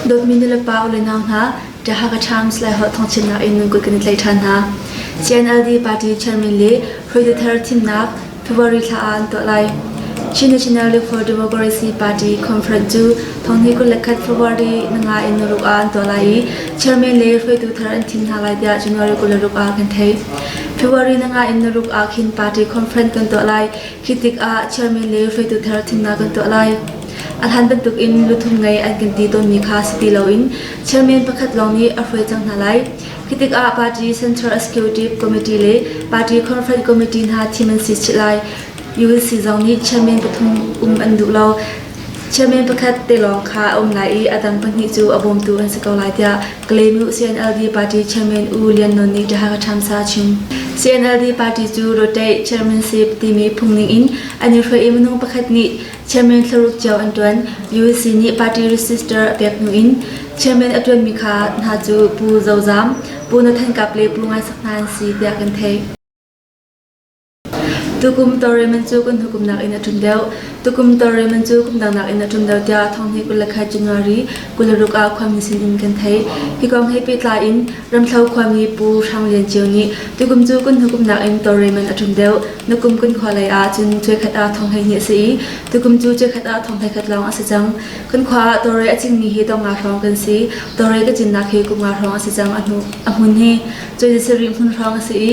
Dawtmi nulepa ule nau hna, Tahaga Times le Holh Thawngthinnak in nan kut kan i tlai ṭhan hna. CNLD party chairman le hruaitu thar thimnak February thla ah an tuah lai. Chin National League for Democracy Party conference cu thonghni kul le khat February nanga in naruk ah an tuah lai i chairman le hruaitu thar an thim hna lai tiah January kul le ruk ah kan theih. February na ngai in na ruk ah khin party conference kan tuah lai. Khi tik ah chairman le hruaitu thar thimnak kan tuah lai. A hlan bantuk in luthum ngei an kan ti tawnmi kha si ti loin chairman pakhat lawng nih a hruai cang hna lai. Khi tik ah party Central Executive Committee le party conference committee hna thim an si chih lai. ULC zong nih chairman pathum um an duh lo. Chairman pakhat te lawng kha a um lai i a dang pahnih cu a bawmtu an si ko lai tiah Kalenu CNLD party chairman U Lian Non nih Taha Thamsa chim. CNLD party cu Rotaih chairmanship timi phungning in an i hruai i minung pakhat nih chairman thlaruk cio an tuan. UEC nih party register pek hnu in chairman a tuanmi kha hna cu Pu Zozam, Pu Nathan Kap le Pu Ngai Sak hna an si tiah kan theih. Tukum tawlrelman cu kan hukumnak in a ṭum deuh. Tukum tawlrelman cu kumdangnak in a ṭum deuh tiah thong hnih kul le khat January kul le ruk ah khuami sin in kan theih. Hi kong he pehtlai in Ramthlo khuami Pu Hrang Lian Ceu nih tukum cu kan hukumnak in tawlrelman a ṭum deuh. Na kum kan khua lei ah cun cuekhat ah thong hleihnih a si i tukum cu cuekhat ah thong hleikhat lawng a si cang. Kan khua ah tawlrel a cingmi hi dong nga hrawng kan si. Tawlrel ka cinnak hi kum nga hrawng a si cang a hnu- a hmun hi. Cu si rih hmun hrawng a si i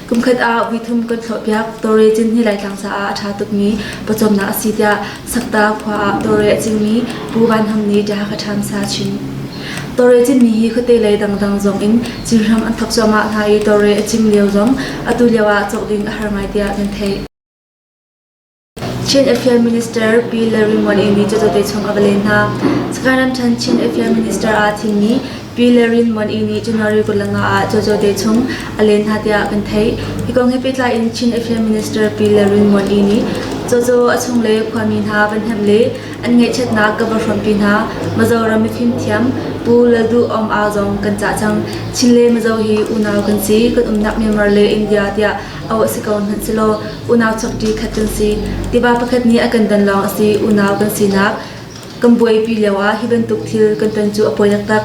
Kumkhat ah vuithum kan thlawhpiak. Tawre cin hi Laitlang caah a ṭha tukmi pawcawmnak a si tiah Sakta khua ah tawre a cingmi Pu Van Ham nih ṭiah ka ṭhamsa chim. Tawre cinmi hi khuate lei dangdang zong in cin hram an thok cuahmah hna i tawre a cing lio zong atu lio ah cawk ding a har ngai tiah kan theih. Chin Affair Minister Pi Lalrinmuan Amy cu Zote chung a va len hna. Sagaing ramṭhen Chin Affair Minister aa thimmi Pi Lalrinmuan Amy cu Nori Kutlanga ah cu Zote chung a len hna tiah kan theih. Hi kong he pehtlai in Chin Affair Minister Pi Lalrinmuan Amy Zozo a chung le khuami hna van hnemh le an ngaihchiatnak ka va hrawmpi hna. Mizoram mifimthiam Pu Lalduhawm Au zong kan cah cang. Chin le Mizo hi unau kan si, kan umnak Myanmar le India tiah âu a si ko hmanhselaw unau chokṭi khat kan si. Tiva pakhat nih a kan don lawng a si unau kan sinak kan buaipi lioah hi bantuk thil kan ton cu a pawi taktak.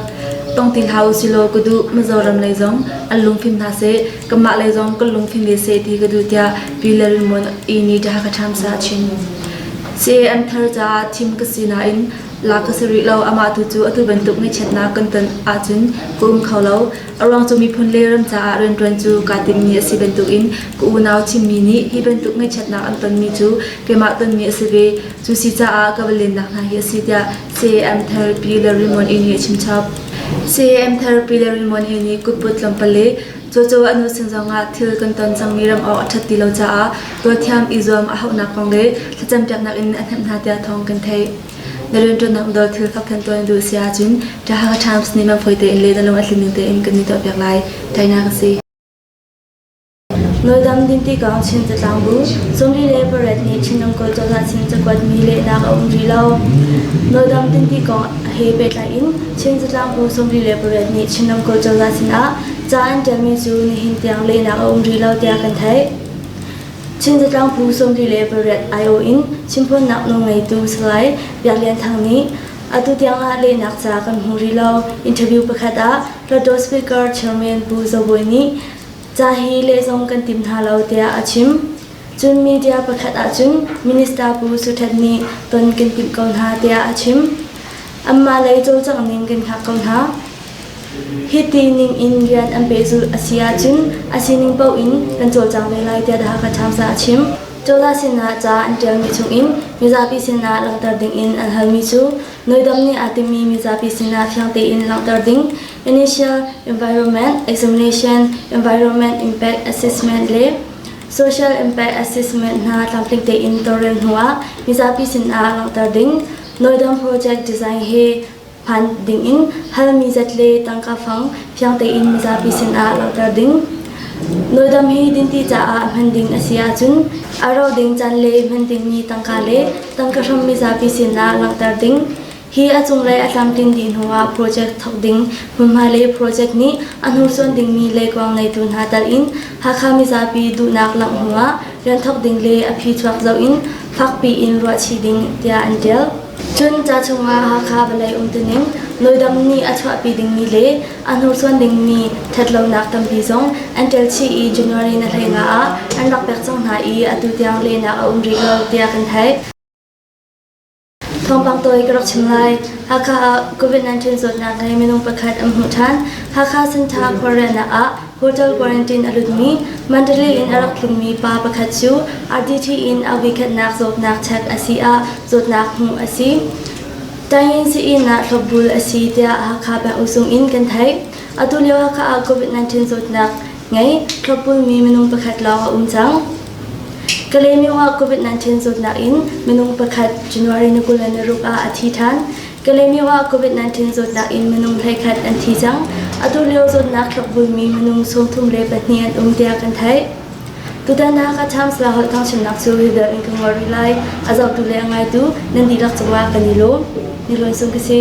Tong ti hlah u silaw ka duh Mizoram lei zong an lungfim hna seh, kanmah lei zong kan lungfim ve seh ti ka duh tiah Pi Lalremon i nih ṭha ka ṭhamsa a chim. Se an thar caah thim ka si nain la ka si rih lo amah tu cu atu bantuk ngaihchiatnak kan ton ahcun ka um kho lo A ruang cu miphun le ram caah rianṭuan cu kaa timmi a si bantukin ka unau chimmi nih hi bantuk ngaihchiatnak an tonmi cu keimah tonmi a si ve. Cu si caah ka va lennak hna hi a si tiah CAM Therapy le Rimon Ini a chimchap. CAM Therapy le Rimon Ini kutput tlawmpal le cawcaw an nusin zongah thil kan ton cangmi ram awk a ṭhat ti lo caah tualthiam i zuam a hauhnak kong le thlacampiaknak in a hnemh hna tiah thawng kan theih. Na rianṭuannak dawr thil fak khan tuah na duh si ahcun ṭah Hakha Times nih mah fawi tein le na lung a tling ning tein kan i tuahpiak lai. Tainak a si. Nawldam din ti kong Chin catlang bu sungri le pariat nih Chinram kawl cozah sin cakuatmi lehnak a um rih lo. Nawldam din ti kong he pehtlai in Chin catlang bu sungri le pariat nih Chinram kawl cozah sinah ca an ṭialmi cu nihin tiang lehnak a um rih lo tiah kan theih. Chin zatlang phu sawmli le paruk aiawh in chimphuannak nawl ngeitu Salai Biak Lian Thang nih atu tiangah lehnak ca kan hmu rih lo. Interview pakhat ah Plateau Speaker Chairman Pu Zo Bawi nih ca hi lehzong kan tim hna lo tiah a chim. Cun media pakhat ahcun Minister Pu Su Htet nih ton kan timh ko hna tiah a chim. Anmah lei cawlcangh ning kan hngak ko hna. Hiti ningin rian an peh zulh a si ahcun a sining paoh in kan cawlcang ve lai tiah The Hakha Times ah a chim. Cawla sinah ca an ṭialmi chungin mizapi sinah langhter dingin an halmi cu Noidam nih aa timmi mizapi sinah fiang tein langhter ding, Initial Environment Examination, Environment Impact Assessment le Social Impact Assessment hna tlamtling tein tawlrel hnuah mizapi sinah langhter ding, Noidam Project Design he Phanh dingin halmi zat le tangka fang fiang tein mizapi sinah langhter ding. Nawldam hi dinti caah hman ding a si ahcun a ro ding can le hman dingmi tangka le tangka hram mizapi sinah langhter ding. Hi a cunglei a tlamtlin dih hnuah project thawk ding hmunhma le project nih a hnursuan dingmi leikuang neitu hna talin Hakha mizapi duhnak langh hnuah rian thawk ding le a phi chuak zoh in fakpi in ruahchih ding tiah an ṭial. Cun ca chungah Hakha vawlei umtuning, noidam nih a chuahpi dingmi le a hnursuan dingmi ṭhatlonak tampi zong an ṭel chih i January na hlei nga ah an rak pek cang hna i atu tiang lehnak a um rih lo tiah kan theih. Thawngpang tawi ka rak chim lai. Hakha ah COVID-19 zawtnak le minung pakhat an hmuh ṭhan. Hakha Center khualriannak ah Hotel quarantine a lutmi Mandalay in a rak tlungmi pa pakhat cu RDT in a vuikhatnak zawtnak check a si ah zawtnak hmuh a si. Tayin Siin ah thlopbul a si tiah Hakha Peng Usung in kan theih. Atu lio Hakha ah COVID-19 zawtnak ngei thlopbulmi minung pakhat lawng a um cang. Kalaymyo ah COVID-19 zawtnak in minung pakhat January ni kul le ni ruk ah a thi ṭhan. Kalemyo ah COVID-19 zawtnak in minung hleikhat an thi cang. Atu lio zawtnak tlakvulmi minung sawmthum le pahnih an um tiah kan theih. Tutan ah Kachams la holh thangchimnak cu hidal in ka ngol rih lai. A zotu le a ngaitu nan dihlak cungah kan i lawm. Ni lon sung ka si.